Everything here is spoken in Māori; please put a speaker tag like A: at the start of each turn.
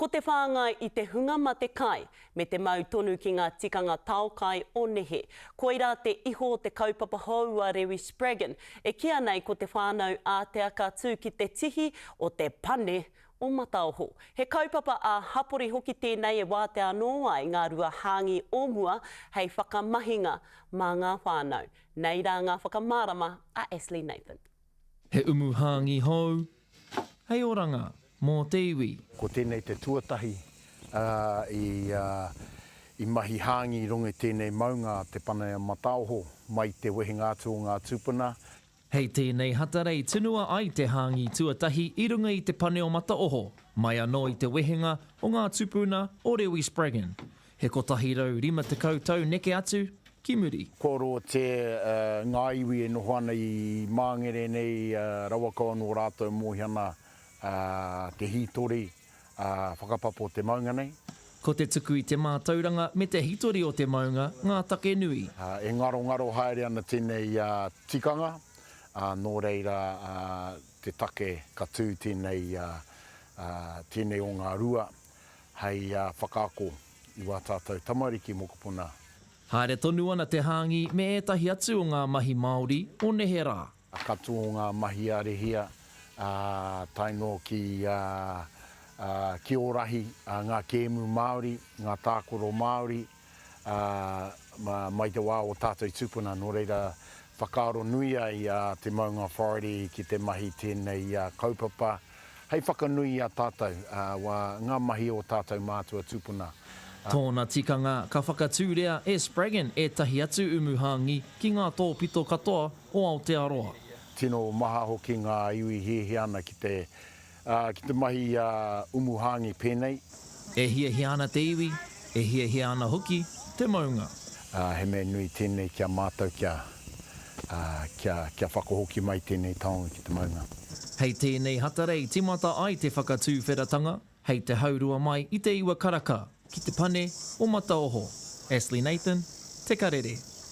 A: Ko te whāngai i te hunga ma te kai, me te mau tonu ki ngā tikanga tao kai o nehe. Koirā te iho o te kaupapa hou a Rewi Spraggon, e kīa nei ko Te Whānau Ātea ka tū ki te tihi o te Pane o Mataoho. He kaupapa ā-hapori hoki tēnei e wātea anō ai ngā rua hāngi o mua hei whakamahinga mā ngā whānau. Nei rā ngā whakamārama a Ashley Nathan. He umu
B: hāngi hou, hei oranga mō te iwi. Ko tēnei te
C: tuatahi, ā, i mahi hāngi i rongo i tēnei maunga a Te Paneamataoho mai i te wehenga atu o ngā tūpuna. Hei tēnei
B: hatara i tunua ai te hāngi tuatahi i runga i Te Paneomataoho, mai anō i te wehenga o ngā tūpuna o Rewi Spraggan. He kotahi rau rima tekau tau neke atu ki muri. Kua roa te
C: ngā iwi e noho ana i Māngere nei rawa kau anō rātou mōhi ana te hītori whakapapo te maunga nei. Ko te tuku i
B: te mātauranga me te hitori o te maunga ngā take nui. E ngarongaro
C: haere ana tēnei tikanga, nō reira te take ka tū tēnei o ngā rua Hei whakaako i wā tātou tamariki mokopuna. Haere tonu
B: ana te hāngi me ētahi atu o ngā mahi Māori o nehe rā. Katoa o ngā
C: mahi a Rehia, tae noa ki Ki Ōrahi, ngā kēmu Māori, ngā tākoro Māori. ā, mai te wā o tātou tūpuna, nō reira, whakaaro nui ai a Te Maunga Authority ki te mahi tēnei kaupapa hei whakanui i a tātou, ā, ngā mahi o tātou mātua tūpuna, ā. Tōna
B: tikanga, ka whakatūria e Spraggon ētahi atu umu hāngi ki ngā tōpito katoa o Aotearoa. Tino maha
C: hoki ngā iwi hiahia ana ki te Ā, ki te mahi i a Umuhāngi pēnei. E hiahia
B: ana te iwi, e hiahia ana hoki te maunga. Ā, he mea nui
C: tēnei ki a mātou kia, ā, kia, kia whakahoki mai tēnei taonga ki te maunga. Hei tēnei
B: hatara i tīmata ai te whakatūwheratanga hei te haurua mai i te iwa karaka ki te pane o Mataoho. Ashley Nathan, Te Karere.